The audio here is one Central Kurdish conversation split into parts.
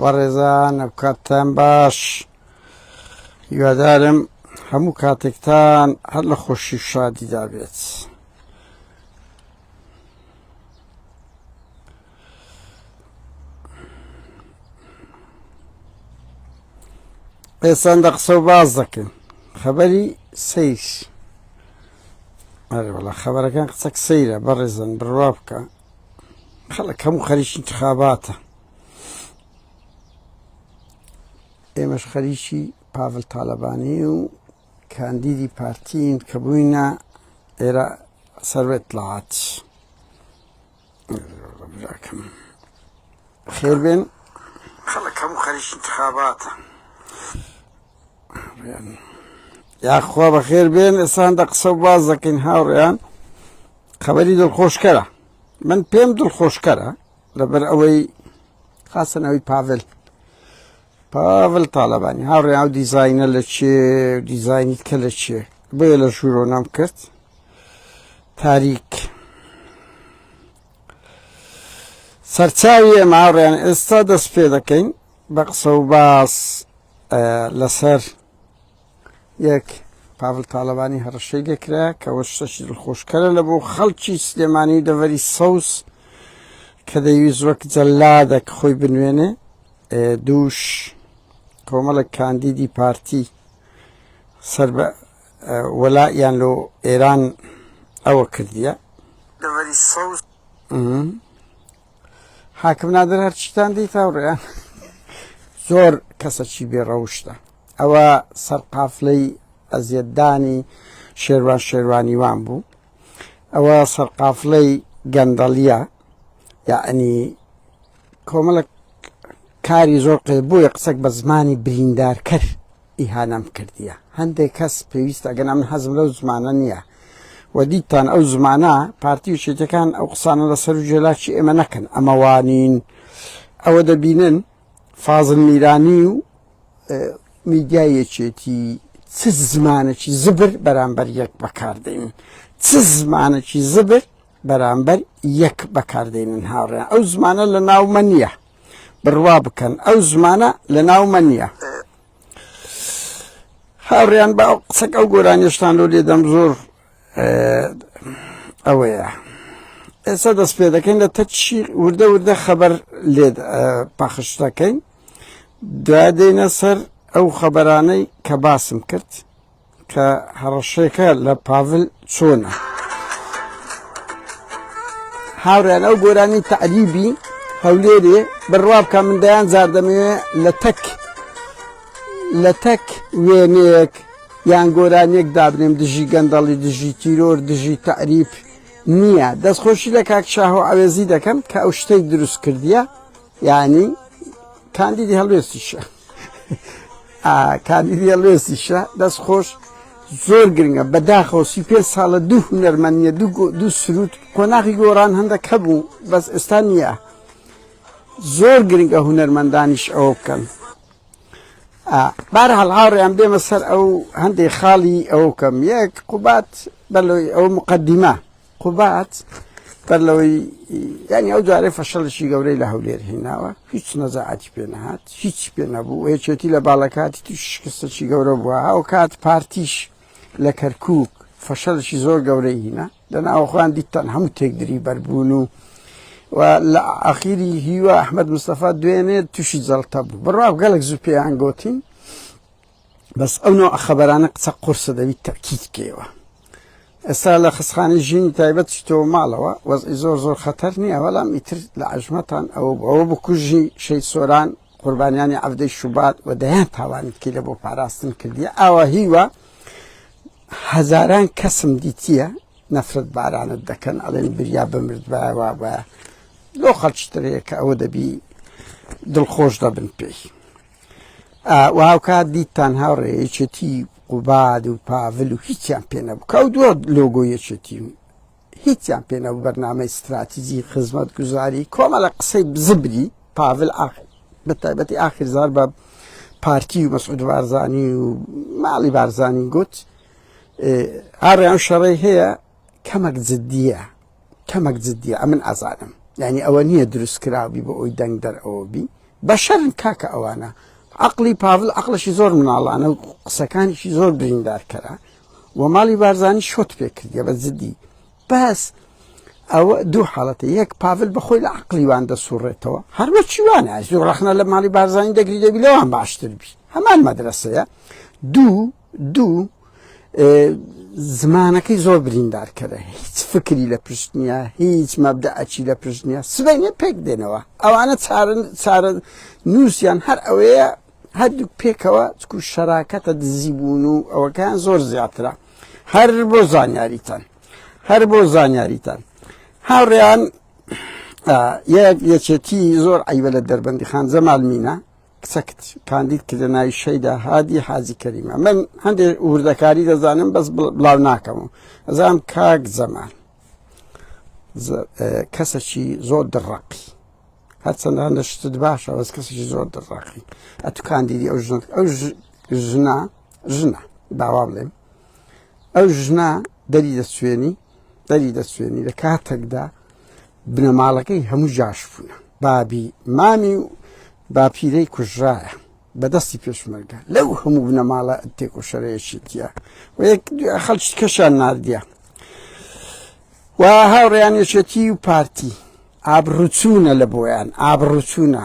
وەڕێزان ئەوکاتتان باش هیوادارم هەموو کاتێکتان هەر لە خۆشی شادیدا بێت. ئێسان دە قسە و باز دەکەن خەبەری سیر ئەرێ وڵا خەبەرەکان قسەک سەیرە بەڕێزن بڕوا بکە خەڵک هەموو خەریکی انتخاباتە ئێمەش خەریکی پاڤل تاالبانی و کاندیدی پارتین کە بووینە ئێرە سەروێت لات خێر بێن خەڵک هەموو خەریکی انتخاباتە یا خوا بەخێر بێن ئێسان دە قسە باز دەکەین هاوڕێیان خەبەری دڵخۆشکەرە من پێم دڵخۆشکەرە لەبەر ئەوەی خاستنەوەی پاڤل پاڤل تاالبانی هاوڕێ ئەو دیزینە لە چێ دیزینی کە لە چێ بۆ لە ژوورۆ نام کرد تاریک سەرچاوی ئێمە هاوڕێیان ئێستا دەست پێ دەکەین بە قسە و باس لەسەر یەک پاڤل تاڵەبانی هەڕەشەی لێکرا کە وە شتەشی دڵخۆشکەرە لە بۆ خەڵکی سلێمانی و دەڤەری سەوز کە دەیویست وەک جەلادە کە خۆی بنوێنێ دووش کۆمەڵک کاندیدی پارتی سەر بە وەلایان لۆ ئێران ئەوە کردیە دەڤەری سەوز حاکم نادر هەرچیتان دیت هاوڕێیان زۆر کەسەکی بێڕەوشتە ئەوە سەرقافلەی ئەزیەتدانی شێروان شێروانیوان بوو ئەوە سەرقافلەی گەندەڵیە یعنی کۆمەڵک کاری زۆر قێ بووە قسەک بە زمانی بریندار کرد ئیهانەم کردیە هەندێک کەس پێویستە ئەگەنا من حەزم لەو زمانە نیە وە دیتان ئەو زمانە پارتی و چێتەکان ئەو قسانە لە سەر و جێلاکی ئێمە نەکەن ئەمە وانین ئەوە دەبینن فازل میرانی و میدیای یەکێتی چ زمانەکی زبر بەرامبەر یەک بەکاردێنن چ زمانەکی زبر بەرامبەر یەک بەکاردێنن هاوڕێن ئەو زمانە لە ناومە نییە بڕوا بکەن ئەو زمانە لە ناومە نییە هاوڕیان بە ئەو قسەک ئەو گۆرانیشتان لۆ لێدەم زۆر ئەوەیە ئێستا دەست پێ دەکەین لە تەچی وردە وردە خەبەر لێ پاخش دەکەین دوای دێنە سەر ئەو خەبەرانەی کە باسم کرد کە هەڕەشەکە لە پاڤل چۆنە؟ هاوڕێیان ئەو گۆرانی تەعریبی هەولێرێ بڕوا بکە من دەیان جار دەمەوێ لە تەک لە تەک وێنەیەک یان گۆرانیەک دابنێم دژی گەندەڵی دژی تیرۆر دژی تەعریف نییە دەستخۆشی لە کاک شاهۆ عەوێزی دەکەم کە ئەو شتەی دروست کردیە یانی کاندیدی هەڵوێستیشە کاندیدی هەڵوێستیشە دەست خۆش زۆر گرنگە بەداخەوە سی پێ ساڵە دوو هونەرمەنیە دوو سرود قۆناغی گۆڕان هەندە کە بوو بەس ئێستا نییە زۆر گرنگە هونەرمەندانیش ئەوە بکەن بار هەڵهاڕیان بێمە سەر ئەو هەندێک خاڵی ئەو کەم یەک قوبات بەلۆی ئەو مقدمە قوباد بەر لەوەی یانی ئەو جارێ فەشەڵشی گەورەی لە هەولێر هێناوە هیچ نەزەعاتی پێ نەهات هیچ پێ نەبوو هێچێتی لە باڵەکاتی توش شکستەی گەورە بووە ئەو کات پارتیش لە کەرکک فەشەلشی زۆر گەورەی هینە لە ناوخوان دیتان هەموو تێکدری بەربوون و و لە ئاخیری هیوا ئەحمد مستەفا دوێنێ تووشی جەڵتە بوو بڕاو گەلک زوو پێیان گوتین بەس ئەو نەوعە خەبەرانە قسە قورسە دەبیت تەکیت بکەیەوە ئێستا لە خستخانی ژینی تایبەت چیتۆ ماڵەوە وەزئی زۆر زۆر خەتەر نییە بەڵام ئیتر لە عژمەتان ئەوە ئەوە بکوژی شەید سۆران قوربانیانی عەفدەی شوبات و دەیان تاوانت کردە بۆ پاراستن کردیە ئاوا هیوە هەزاران کەسم دیتیە نەفرەت بارانت دەکەن ئەڵێن بریا بمردبایەوە بە لۆ خەڵچترەیە کە ئەوە دەبی دڵخۆش دەبن پێی و هاوکات دیتان هاوڕێ یەکێتی قوباد و پاڤل و هیچیان پێ نەبوو کە ئەو دووە لۆگۆ یەکێتی و هیچیان پێ نەبوو بەرنامەی ستراتیزی خزمەت گوزاری کۆمەڵە قسەی بزبری پاڤل ئاخر بە تایبەتی ئاخر زار بە پارتی و مەسعود بارزانی و ماڵی بارزانی گوت هاڕێیان شەڕی هەیە کەمەک جددیە کەمەک جددیە ئەمن ئازانم یعنی ئەوە نییە دروست کراوی بۆ ئەوی دەنگ دەرەوە بی بەشەرن کاکە ئەوانە عقلی پاڤل عقلشی زۆر مناڵانە و قسەکانیشی زۆر بریندارکەرە و ماڵی بارزانانی شۆت پێکردە بە جددی بەس ئەوە دوو حاڵەتی یەک پاڤل بەخۆی لە عقلیوان دەسوڕێتەوە هەروە چیوانە زۆر ڕخنە لە ماڵی بارزانانی دەگری دەبی لەوان باشتر بی هەمان مەدرسەیە دوو دوو زمانەکەی زۆر بریندارکەرە هیچ فکری لە پشت نییە هیچ مەبدەعەکی لە پشت نییە سبینێ پێک دێنەوە ئەوانە چارن چارە نووسیان هەر ئەوەیە هەردوو پێکەوە چکو شەراکەتە دزی بوون و ئەوەکان زۆر زیاترە هەر بۆ زانیاریتان هەر بۆ زانیاریتان هاوڕێیان یەک یەکێتی زۆر ئەیوە لە دەربەندی خان زەمالمینە کچەکت کاندید کردە ناوی شەیدا هادی حاجی کەریم ئەمن هەندێ وردەکاری دەزانم بەس بڵاو ناکەم و ئەزانم کاک زەمان کەسەکی زۆر دڕەقی هەرچەند هەندە شتت باشە بەس کەسێکی زۆر دڕاقی ئەتو کاندیدی ئەو ژنت ئەو ژنا ژنە داوا بڵێم ئەو ژنا دەری دەسوێنی دەری دەسوێنی لە کاتێکدا بنەماڵەکەی هەموو جاش بوونە بابی مامی و باپیرەی کوژرایە بەدەستی پێشمەرگە لەو هەموو بنەماڵە تێکۆشەرەیەکی دیە و یەک خەڵکی کەشان نردە و هاوڕیانێشێتی و پارتی ئابڕوچوونە لە بۆیان ئابڕوچوونە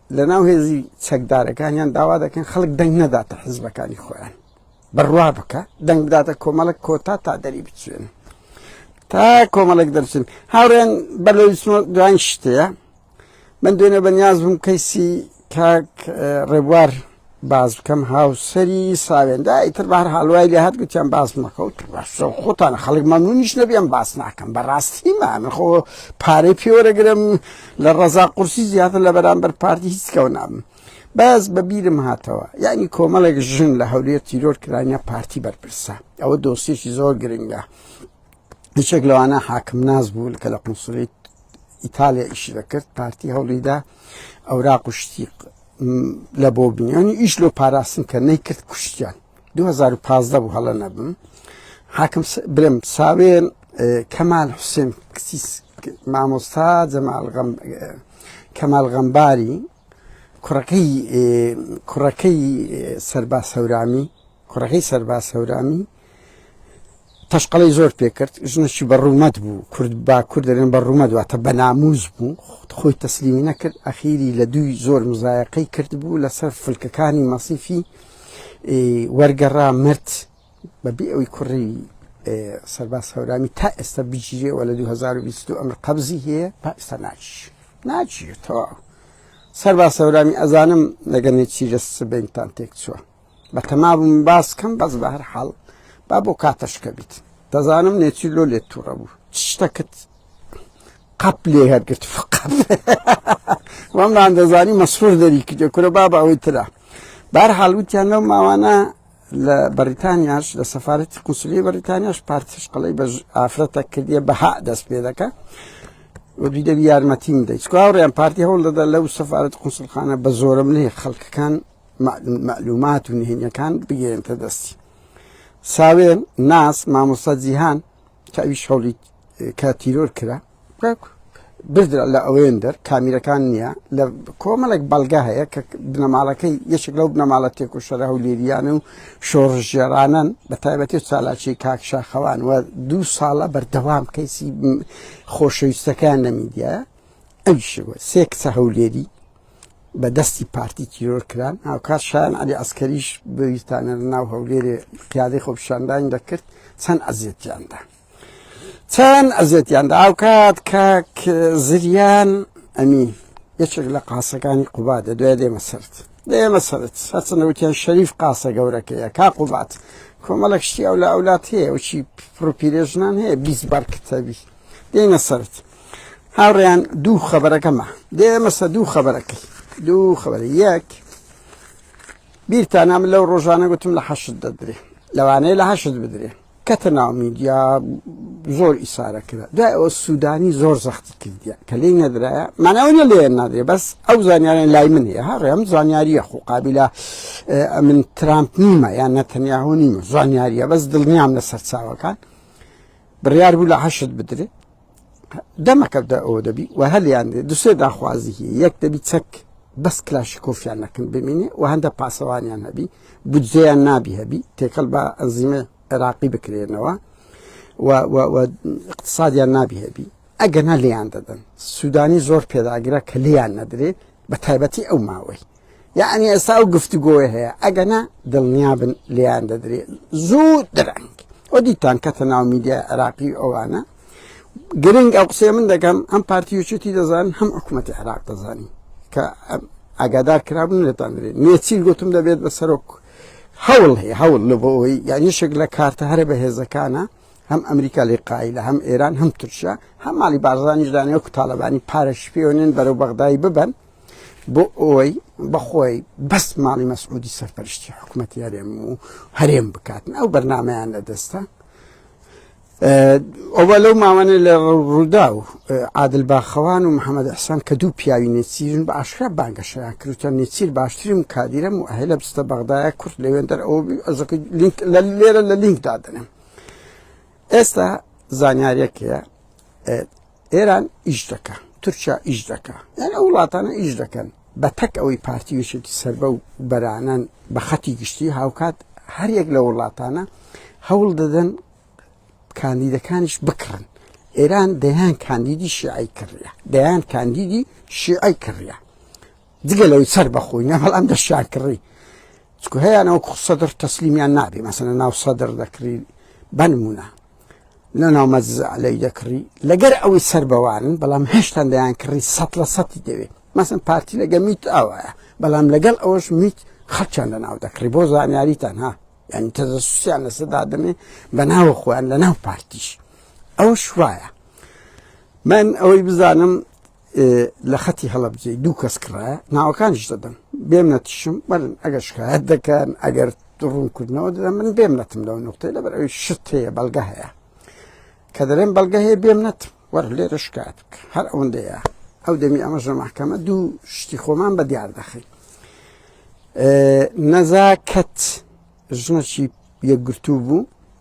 لەناو هێزی چەکدارەکانیان داوا دەکەن خەڵک دەنگ نەداتە حزبەکانی خۆیان بڕوا بکە دەنگ بداتە کۆمەڵک کۆتا تا دەری بچێن تا کۆمەڵک دەرچن هاوڕێن بەر لە دوان شتەیە من دوێنێ بەنیاز بووم کەیسی کاک ڕێبوار باس بکەم هاوسەری ساوێندا ئیتر بار هەڵوای لە هەر گوتیان باس مەکەوت خۆتان خەڵک مەمنونیش نەبیێن باس ناکەم بەڕاستی من خۆ پارەی پێوەرەگرم لە ڕەزا قورسی زیاتر لە بەرامبەر پارتی هیچکەەوە نابم بەس بە بیرم هاتەوە یعنی کۆمەڵێک ژن لە هەولێر تیرۆر کرانە پارتی بەرپرسە ئەوە دۆسیێکی زۆر گرنگە یەکێک لەوانە حاکم ناز بوو کە لە قونسڵی ئیتالیا ئیش دەکرد پارتی هەوڵیدا ئەورا قشتی لە بۆ بنیانی ئیش لۆ پاراستن کە نەیکرد کوشتیان 2015 بوو هەڵە نەبم حاکم برم ساوێن کەمال حوسێن کسیس مامۆستا جەمال کەمال غەمباری کوڕەکەی کوڕەکەی سەرباز هەورامی کوڕەکەی سەرباز هەورامی تەشقەڵی زۆر پێکرد ژنەشی بە ڕوومەت بوو کورد با کورد دەرێن بە ڕوومەت واتە بە ناموز بوو خۆی تەسلیمی نەکرد ئەخیری لە دووی زۆر مزایەقەی کرد بوو لەسەر فلکەکانی مەسیفی وەرگەڕا مرد بە بێ ئەوی کوڕی سەرباز هەورامی تا ئێستا بگیرێ وە لە 2022 ئەمر قەبزی هەیە تا ئێستا ناچ ناچێتەوە سەرباز هەورامی ئەزانم لەگەنێ چی لە سبینتان تێک چووە بە تەما بووم باس کەم بەس بە هەر حاڵ با بۆ کاتەشکە بیت دەزانم نێچی لۆ لێت تووڕە بوو شتەکەت قەپ لێ هەرگرت فقەت وەمران دەزانی مەسرور دەری کردێ کورە بابا ئەوەی تررا بار حاڵوتیان لەو ماوانە لە بەریتانیاش لە سەفارەتی قونسلی بەریتانیاش پارتیش قەڵی بە ئافرەتە کردیە بەها دەست پێ دەکە وەدوی دەبی یارمەتیم دەیت چکاوڕیان پارتی هەوڵ دەدا لەو سەفاەت قوسلخانە بە زۆرە منێ خەڵکەکان معلومات و نهێنیەکان بگەێنتە دەستی ساوێن ناس مامۆستا جیهان کە ئەوی شەڵیت کە تیرۆر کرا بردرا لە ئەوێن دەر کامیرەکان نییە لە کۆمەڵێک بەڵگە هەیە کە بنەماڵەکەی یەکێک لەو بنەماڵە تێک و شەرە و لێریانە و شۆڕژێرانن بە تایبەتی و سالاچی کاکشاخەوان و دوو ساڵە بەردەوام کەیسی خۆشەویستەکان لە میدیە ئەوشەوە سێ کچە هەولێری بە دەستی پارتی تیرۆر کران هاوکات شان علی ئەسکەریش بەویستانە ناو هەولێرێ قیادەی خۆپشاندان دەکرد چەند ئەزیێتیاندا چەند ئەزێتیان دا ئاوکات کاک زریان ئەمین یەکێک لە قاسەکانی قوبا دە دوای دێمە سرد دێمە سرد هەچەنەوتیان شەریف قاسە گەورەکەیە کا قوبات کۆمەڵک شتی ئەو لە ئەولات هەیە وچی پرۆپیرێژنان هەیە بیست بار کتەبی دێنە سرد هاوڕێیان دوو خەبەرەکەمە دێمەسە دوو خەبەرەکەی دوو خەبەر یەک بیرتانام لەو ڕۆژانە گوتم لە حەشت دەدرێ لەوانەیە لە حەشت بدرێ کەتە ناو میدیا زۆر ئیسارە کرا دوای ئەوە سوودانی زۆر زەختی کردیە کە لی نەدرایە ماناونە لێ نادرێ بەس ئەو زانیاریان لای من هەیە هەڕێ ئەم زانیاریە خۆ قابلە من ترامپ نیمە یان نەتەنیاهۆ نیمە زانیاریە بەس دڵنیام لە سەرچاوەکان بڕیار بوو لە حەشت بدرێت دەمەکەدا ئەوە دەبی و هەلیان دوسێ داخوازی هی یەک دەبی چەک بەس کلاشی کۆفیان نەکن بمینێ و هەندە پاسەوانیان هەبی بجێیان نابی هەبی تێکەڵ بە ئەنزیمە عێراقی بکرێنەوە اقتصادیان نابی هەبی ئەگەنا لیان دەدەن سوودانی زۆر پێداگرە کە لیان نەدرێت بە تایبەتی ئەو ماوەی یەعنی ئێستا ئەو گفتوگۆیە هەیە ئەگەنا دڵنیابن لێیان دەدرێت زوو درەنگ ئەو دیتان کەتە ناو میدیا عێراقی ئەوانە گرنگ ئەو قسەیە من دەکەم ئەم پارتی وچێتی دەزان هەم حکوومەتی عێراق دەزانی کە ئاگادار کرابن لێتان درێت نێچیل گوتم دەبێت بە سەرۆک هەوڵ هەیە هەوڵ لە بۆەوەی یانیشێک لە کارتە هەرە بە هێزەکانە هەم ئەمریکا لێ قایلە هەم ئێران هەم ترشە هەم ماڵی بارزانانیش دانێ و تاالبانی پارەش پێوەێن بەرەو بەغدای ببن بۆ ئەوەی بەخۆی بەس ماڵی مەسعودی سەرپەرشتی حکوومەتی هەرێم و هەرێم بکاتن ئەو بەرنمەیان لە دەستە ئەوە لەو ماوانە لە ڕوودا و عادل باخەوان و محەممەد حسان کە دوو پیاوی نێچیرن بە ئاشکرا بانگەشەیان کردوتە نێچیر باشترین کادیرم و هەیە لە بستە بەغدایە کورت لەوێن دەر ئەو لە لێرە لە لینک دادنم ئێستا زانیارەکەیە ئێران ئیش دەکا تورکیا ئیش دەکا یان ئەو وڵاتانە ئیش دەکەن بە تەک ئەوەی پارتی وشێکی سربە و بەرانەن بە خەتی گشتی هاوکات هەریەک لە وڵاتانە هەوڵ دەدەن کاندیدەکانیش بکڕن ئێران دەیان کاندیدی شیعی کڕە دەیان کاندیدی شیعی کڕە جگە لەوەی سەر بەخۆی نە هەڵام دەشیان کڕی چکو هەیەیانەوە سەدر تەسلیمیان نابێ مەسەنە ناو سەدر دەکری بەنمونە لە ناو مەزعلەی دەکڕی لەگەر ئەوەی سەر بەوانن بەڵام هێشتان دەیان کڕی سە لە سەتی دەوێت مەسن پارتی لەگە میت ئاوایە بەڵام لەگەڵ ئەوەش میت خەچان لە ناو دەکڕی بۆ زانیاریتان ها یعنی تەزسوسیان لەسەدا دەمێ بە ناوە خۆیان لە ناو پارتیش ئەو شوایە من ئەوەی بزانم لە خەتی هەڵەبجەی دوو کەس کڕایە ناوەکانیش دەدەم بێم نەتیشم بەرن ئەگەر شکایەت دەکەن ئەگەر ڕوونکردنەوە دەدەم من بێم نەتم لەو نقطەی لەبەر ئەوی شت هەیە بەڵگە هەیە کە دەرێن بەڵگە هەیە بێم نەتم وەر لێرە شکایەت بکە هەر ئەوەندەیە ئەو دەمی ئەمەش لە محکەمە دوو شتی خۆمان بە دیار دەخین نەزاکەت ژنەچی یەکگرتوو بوو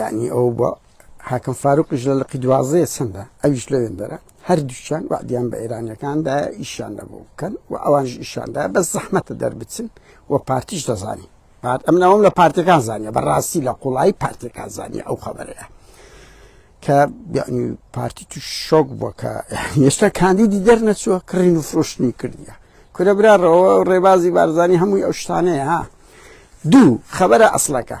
یعنی ئەو بە حاکم فاروقیش لە لقی دوازەیە چەندە ئەویش لەوێن دەرە هەردووچان وعدیان بە ئێرانەکاندا ئیشان نەبوو بکەن و ئەوانش ئیشاندا بە زەحمەتە دەربچن و پارتیش دەزانین پارت ئەم ناوم لە پارتەکان زانیە بەڕاستی لە قوڵایی پارتەکان زانانی ئەو خەبەرەیە کە یعنی پارتی تو شۆک بووە کە ئێستا کاندیدی دەرنەچووە کڕین و فرۆشتنی کردیە کورە براڕەوە ڕێبازی بارزانانی هەمووی ئەو شتانەیە ها دوو خەبەرە ئەسلەکە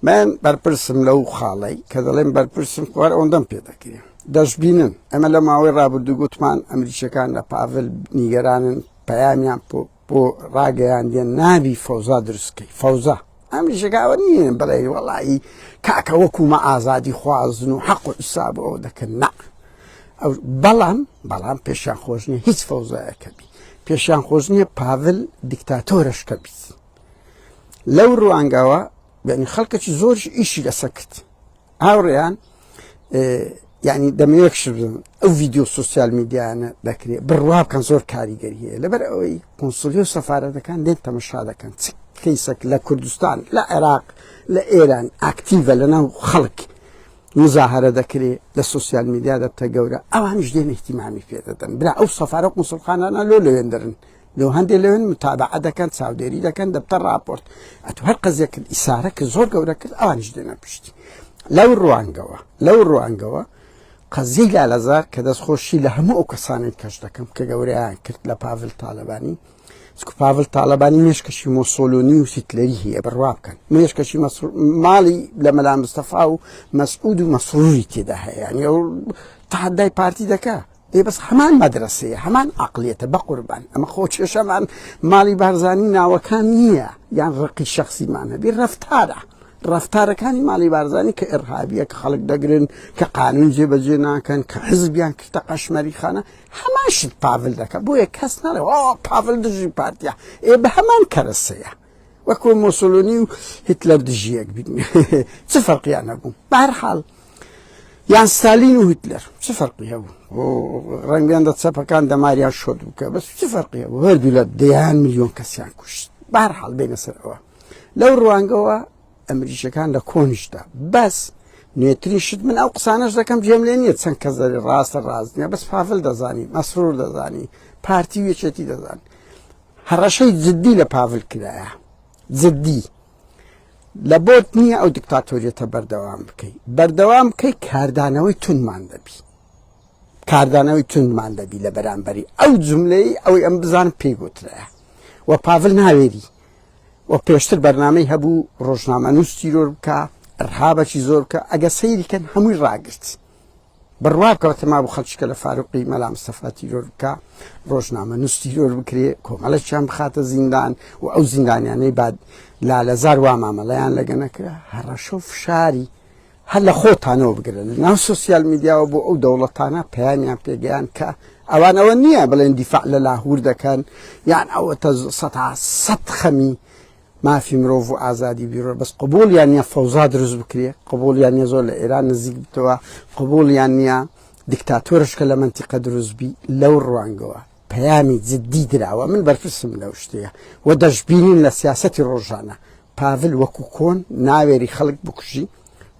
من بەرپرسم لەو خاڵی کە دەڵێن بەرپرسم خوار ئەوەندەم پێ دەکرێن دەشببینن ئەمە لە ماوەی ڕابردوو گوتمان ئەمریکیەکان لە پاڤل نیگەرانن پەیامیان بۆ ڕاگەیاندیان نابی فەوزا دروست کەی فەوزا ئەمیشەکە ئەوە نییە بڵێ وەڵایی کاکە وەکومە ئازادی خوازن و حەق و حساب ئەو دەکەن نا ئەو بەڵام بەڵام پێشیان خۆش نیە هیچ فەوزایەکە بی پێشیان خۆش نییە پاڤل دیکتاتۆرشکە بیت لەو ڕوانگەوە بەنی خەڵکەکی زۆرش ئیشی لەسەکرد هاوڕێیان یعنی دەمەوێت شبم ئەو ڤیددیو سوسیال میدیانە دەکرێت بڕوا بکەن زۆر کاریگەری هەیە لەبەر ئەوەی قنسلی و سەفاەتەکان لێن تەمەشا دەکەن چ کەیسەک لە کوردستان لە عێراق لە ئێران ئاکتیڤە لە ناو خەڵک مزاهرە دەکرێت لە سوسیال میدیا دەبتە گەورە ئەوانش دێن احتیمامی پێ دەدەن برا ئەو سەفاە قوسڵخانانە لۆ لەوێندرن لۆ هەندێک لەوێن متابعە دەکەن چاودێری دەکەن دەبتە ڕاپۆرت ئەتو هەر قەزیە کرد ئیسارە کرد زۆر گەورە کرد ئەوانیش دێنە پشتی لەو ڕوانگەوە لەو ڕوانگەوە قەزیی لالەزار کە دەست خۆشی لە هەموو ئەو کەسانێک کەش دەکەم کە گەوریان کرد لە پاڤل تاالبانی سکو پاڤل تاالبانی مێشکەشی مۆسۆلۆنی و سیتلەری هەیە بڕوا بکەن مێشکەشی ماڵی لە مەلا مستەفا و مەسعود و مەسروری تێدا هەیە یعنی ئەو تحدای پارتی دەکە ئێ بەس هەمان مەدرەسەیە هەمان عقلیەتە بەقوربان ئەمە خۆ کێشەمان ماڵی بارزانانی ناوەکان نییە یان ڕقی شخصیمان هەبی ڕفتارە ڕفتارەکانی ماڵی بارزانانی کە ئێرهابیە کە خەڵک دەگرن کە قانون جێبەجێ ناکەن کە حزبیان کردە قەشمەری خانە هەماشت پاڤل دەکە بۆیە کەس نەڵێ پاڤل دژی پارتیا ئێ بە هەمان کەرەسەیە وەکو موسولونی و هیتلەر دژیەک بین چ فەرقیان هەبوو بەهرحاڵ یان ستالین و هیتلەر چ فەرقی هەبوو ڕەنگیان دە چەپەکان دەماریان شۆت بکە بەس چ فەرقی هەبوو هەردوو لە دەیان میلیۆن کەسیان کوشت بەهرحاڵ بێنە سەرەوە لەو ڕوانگەوە ئەمریشەکان لە کۆنیشدا بەس نوێترین شت من ئەو قسانەش دەکەم جێم لێ نییە چەند کەس دەێ ڕاستە ڕاستنیە بەس پاڤل دەزانی مەسرور دەزانی پارتی وێچێتی دەزانی هەڕەشەی جدی لە پاڤل کرایە جدی لە بۆت نییە ئەو دیکتاتۆریەتە بەردەوام بکەی بەردەوام بکەی کاردانەوەی تونمان دەبی کاردانەوەی تونمان دەبی لە بەرامبەری ئەو جملەی ئەوەی ئەم بزان پێی گوترە و پاڤل ناوێری و پێشتر بەرنمەی هەبوو ڕۆژنامە نووس تیرۆر بکە ڕهابەکی زۆر بکە ئەگە سەیریکەن هەمووی ڕاگرت بڕوابکەوە تەمابوو خەڵکیکە لە فاروقی مەلا مستەفا تیرۆر بکە ڕۆژنامە نووس تیرۆر بکرێ کۆمەڵەکیان بخاتە زیندان و ئەو زیندانیانەی بعد لالەزار وا مامەڵیان لەگە نەکرا هەڕەشە و فشاری هەر لە خۆتانەوە بگرن ناو سوسیال میدیاوە بۆ ئەو دەوڵەتانە پەیامیان پێگەیان کە ئەوانەوە نییە بڵێن دیفاع لە لاهور دەکەن یان ئەوە تە سەد سەد خەمی مافی مرۆڤ و ئازادی بیرۆ بەس قبول یان نیە فەوزا دروست بکرێ قبول یان نیە زۆر لە ئێران نزیک بتەوە قبول یان نیە دیکتاتۆرشکە لە منتیقە دروستبی لەو ڕوانگەوە پەیامی جددی دراوە من بەرپرسم لەو شتەیە و دەشببینین لە سیاستی ڕۆژانە پاڤل وەکو کۆن ناوێری خەڵک بکوژی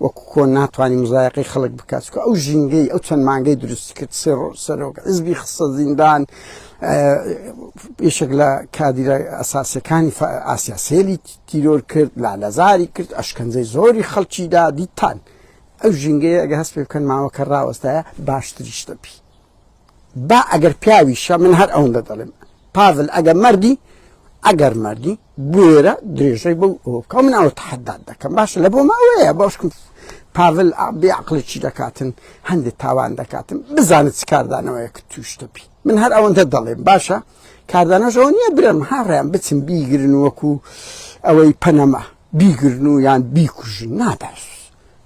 وەکو کۆن ناتوانی مزایەقەی خەڵک بکات چکە ئەو ژینگەی ئەو چەند مانگەی دروستی کرد سێ ڕۆژ سەرۆک حزبی خستە زیندان یشێک لە کادیرە ئەساسەکانی ئاسیا سێلی تیرۆر کرد لا لەزاری کرد ئەشکەنجەی زۆری خەڵکی دا دیتان ئەو ژینگەیە ئەگە هەست پێ بکەن ماوەکە ڕاوەستایە باشتریشتە بی با ئەگەر پیاویشە من هەر ئەوەندە دەڵێم پاڤل ئەگەر مەردی ئەگەر مەردی بوێرە درێژەی بەو ئەوکە من ئەوە تحداد دەکەم باشە لە بۆ ماوەیە باشکم پاڤل بێ عقلی چی دەکاتن هەندێک تاوان دەکاتن بزانت چ کاردانەوەیە کە توشتەبی من هەر ئەوەندە دەڵێم باشە کاردانەشەوە نییە برم هاڕیان بچم بیگرن وەکو ئەوەی پەنەما بیگرن و یان بیکوژن ناباش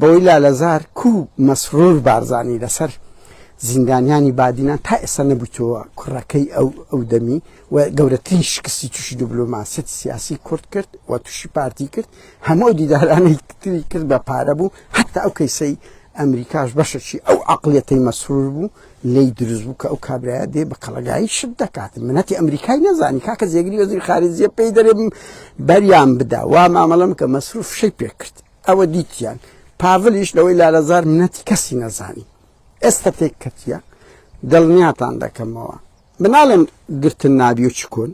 بەوەی لالەزار کو مەسرور بارزانی لەسەر زیندانیانی بادینان تا ئێستا نەبوویتەوە کوڕەکەی ئەو ئەو دەمی و گەورەترین شکستی تووشی دیبلۆماسیەتی سیاسی کورد کرد و تووشی پارتی کرد هەموو دیدارانەی تری کرد بە پارە بوو حتا ئەو کەیسەی ئەمریکاش بەشەکی ئەو عقلەتەی مەسرور بوو لی دروست بوو کە ئەو کابراە دێ بە کەڵگایی شت دەکات منەتی ئەمریکای نەزانی کاکە زێگری وەزیر خارجیە پێی دەرێ بەریان بدا وا مامەڵم کە مەسرور فشەی پێ کرد ئەوە دیتیان پاڤلیش لەوەی لالەزار منەتی کەسی نەزانی ئێستا تێک کەتیە دڵنیاتان دەکەمەوە مناڵێن گرتن نابی و چکون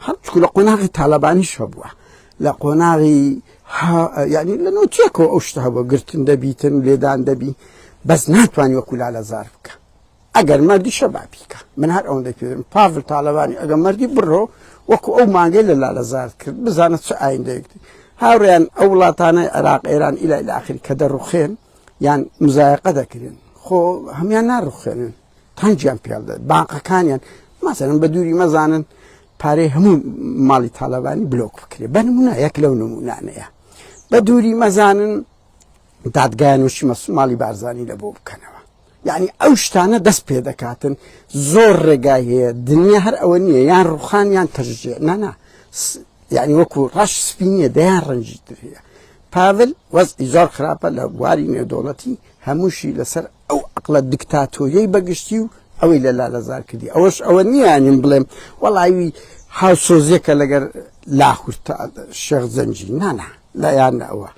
هەرچکو لە قۆناغی تالبانی شەبووە لە قۆناغی یعنی لە نوتیەکەوە ئەو شتە بۆ گرتن دەبیتن لێدان دەبی بەس ناتوانانی وەکولا لە زار بکە ئەگەر مەردیشە با بیکا. من هەر ئەوەندەی پێ دەڵێم پاڤل تاڵەبانی ئەگەر مەردی بڕۆ وەکوو ئەو مانگەی لە لالەزارت کرد بزانە چ ئایندەیەک دێ. هاوڕێیان ئەو وڵاتانەی عێراق، ئێران ئیلا ئیلا ئاخری کە دەڕووخێن یان مزایەقە دەکرێن خۆ هەموان ناڕووخێنن تەنگیان پێ بدەن بانقەکانیان مەسەلەن بە دووری مەزانن پارەی هەموو ماڵی تاالبانی بلۆک بکرێ بە نمونە یەک لەو نمونانەیە بە دووری مەزانن دادگایان وشی مەسوماڵی بارزانانی لە بۆ بکەنەوە یانی ئەو شتانە دەست پێ دەکاتن زۆر ڕێگای هەیە دنیا هەر ئەوە نییە یان ڕوخان یان تەژێ نانا یعنی وەکو ڕەش سپینە دەیان ڕەنجی ترەیە پاڤل وەزی زۆر خراپە لە بواری نێودۆڵەتی هەمووشی لەسەر ئەو عقلە دیکتاتۆریەی بەگشتی و ئەوەی لە لالەزار کردی ئەوەش ئەوە نییانیم بڵێم وەڵاوی هاوسۆزیەکە لەگەر لاهورتا شێخ زەنجی نانا لایان ئەوە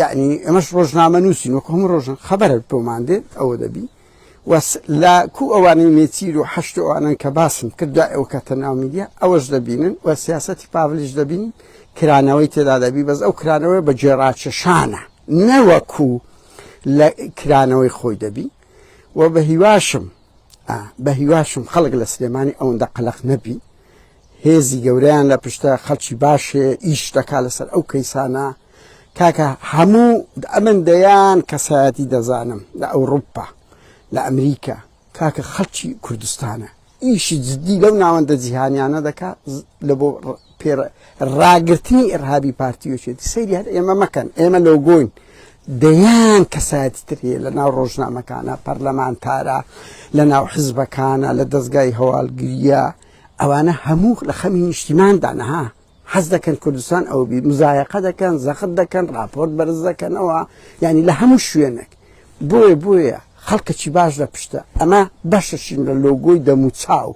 یەعنی ئەمەش ڕۆژنامە نووسین وەکو هەموو ڕۆژن خەبەرت بۆمان دێت ئەوە دەبی وەس لە کو ئەوانەی نێچیر و حەشت ئەوانن کە باسم کرد دوای ئەو کەتە ناو میدیا ئەوەش دەبینن و سیاستی پاڤلیش دەبین کرانەوەی تێدا دەبی بەس ئەو کرانەوەی بە جێڕاکێشانە نەوەکو لە کرانەوەی خۆی دەبی و بە هیواشم بەهیواشم خەڵک لە سلێمانی ئەوەندە قەلەق نەبی هێزی گەورەیان لە پشتە خەڵکی باشێ ئیش دەکا لەسەر ئەو کەیسانە کاکە هەموو ئەمن دەیان کەسایەتی دەزانم لە ئەوروپا لە ئەمریکا کاکە خەڵکی کوردستانە ئیشی جددی لەو ناوەندە جیهانیانە دەکات لە بۆ پێ ڕاگرتنی ئێرهابی پارتی یەکێتی سەیری هەر ئێمە مەکەن ئێمە لۆگۆین دەیان کەسایەتی تر هەیە لە ناو ڕۆژنامەکانە پەرلەمانتارە لە ناو حزبەکانە لە دەستگای هەواڵگریە ئەوانە هەموو لە خەمی نیشتیماندا نەها حەز دەکەن کوردستان ئەو بی مزایەقە دەکەن زەخت دەکەن راپۆرت بەرز دەکەنەوە ینی لە هەموو شوێنێک بۆیە بۆیە خەڵکەکی باش لە پشتە ئەمە بەشەشین لە لۆگۆی دەموچاو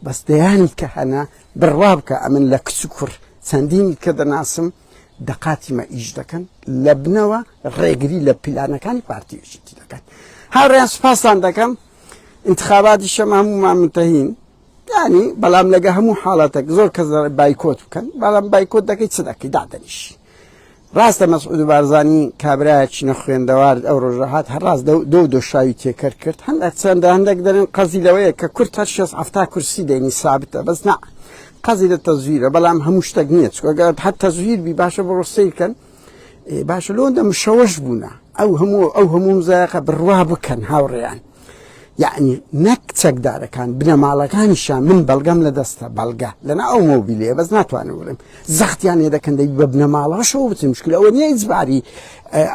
بەس دەیانی کە هەنە بڕوا بکە ئەمن لە کچ و کوڕ چەندینی کە دەناسم دەقاتی مە ئیش دەکەن لە بنەوە ڕێگری لە پیلانەکانی پارتی یەکێتی دەکەن هاوڕێیان سپاستان دەکەم انتخاباتی شەم هەموو مامنتەهین یانی بەڵام لەگە هەموو حاڵەتێک زۆر کەس بایکۆت بکەن بەڵام بایکۆت دەکەی چ دەکەی دادەنیش ڕاستە مەسعود بارزانانی کابراایکی نەخوێندەوار ئەو ڕۆژەهات هەڕاست دو دۆشاوی تێکەر کرد هەند چەندە هەندێک دەرن قەزی لەوەیە کە کورت هەر شێ هەفتا کورسی دێنی سابتە بەس نا قەزی لە تەزویرە بەڵام هەموو شتێک نییە چگەت هەر تەزویر بی باشە بۆ ڕۆسیکەن باشە لۆندە مشەوەش بوونە ئەو هەموو ئەو هەموو زایقە بڕوا بکەن هاوڕێیان یەعنی نەک چەکدارەکان بنەماڵەکانیشیان من بەڵگەم لە دەستە بەڵگە لەنا ئەو مۆبیلەیە بەس ناتوانم بڵێم زەختیان لێ دەکەن دەبی بە بنەماڵەشەوە بچن مشکل ئەوە نیە ئیجباری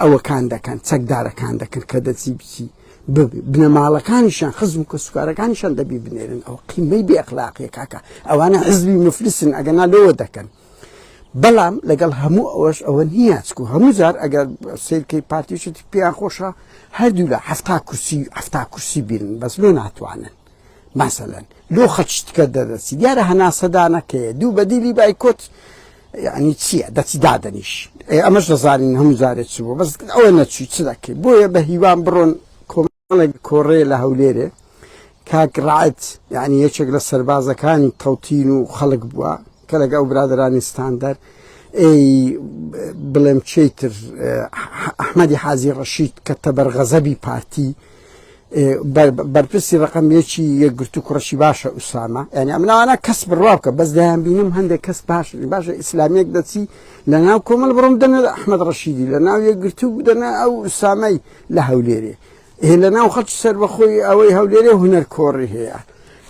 ئەوەکان دەکەن چەکدارەکان دەکەن کە دەچی بچی بنەماڵەکانیشان خزم و کەسوکارەکانیشان دەبی بنێرن ئەو قیمەی بێخلاقیە کاکە ئەوانە حزبی مفلسن ئەگەنا لەوە دەکەن بەڵام لەگەڵ هەموو ئەوەش ئەوە نییە چکو هەموو جار ئەگەر سیرکەی پارتیشتی پێیان خۆشە هەردوو لە هەفتا کورسی هەفتا کورسی بینن بەس لۆ ناتوانن ماسەلەن لۆ خەچتکە دەدەسی دیارە هەناسەدانەکەی دوو بەدیلی بایکۆت یعنی چییە دەچی دادەنیش ئەمەش دەزانین هەموو جارێت چ بوو بەس ئەوە نەچوی چ دەکەی بۆیە بە هیوام بڕۆن کۆمەڵێک کۆڕێ لە هەولێرێ کاک ڕعەت یعنی یەکێک لە سەربازەکانی تەوتین و خەڵک بووە کە لەگە ئەو برادرانی ستاندەر ئەی بڵێم چیتر ئەحمەدی حازی ڕەشید کە تەبەر غەزەبی پارتی بەرپرسی ڕقم یەکی یەکگرتو کوڕشی باشە ئوسامە یعنی ئەمناوانە کەس بڕوا بکە بەس دایان بینم هەندێک کەس باش باشە ئیسلامیەک دەچی لە ناو کۆمەل بڕم دەنە ئەحمد ڕەشیدی لە ناو یەکگرتو بدەنە ئەو ئوسامەی لە هەولێرێ هێ لە ناو خەڵکی سەربەخۆی ئەوەی هەولێرێ هونەر کۆڕی هەیە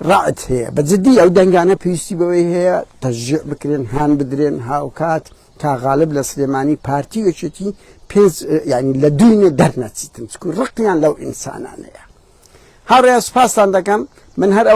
ڕعت هەیە بە جدی ئەو دەنگانە پێویستی بەوەی هەیە تەژێ بکرێن هان بدرێن هاوکات تا غالب لە سلێمانی پارتی وەچێتی پێنج ینی لە دوینێ دەرنەچیتن چکو ڕقیان لەو ئینسانانەیە هاڕێ سپاسان دەکەم من هەر ئەو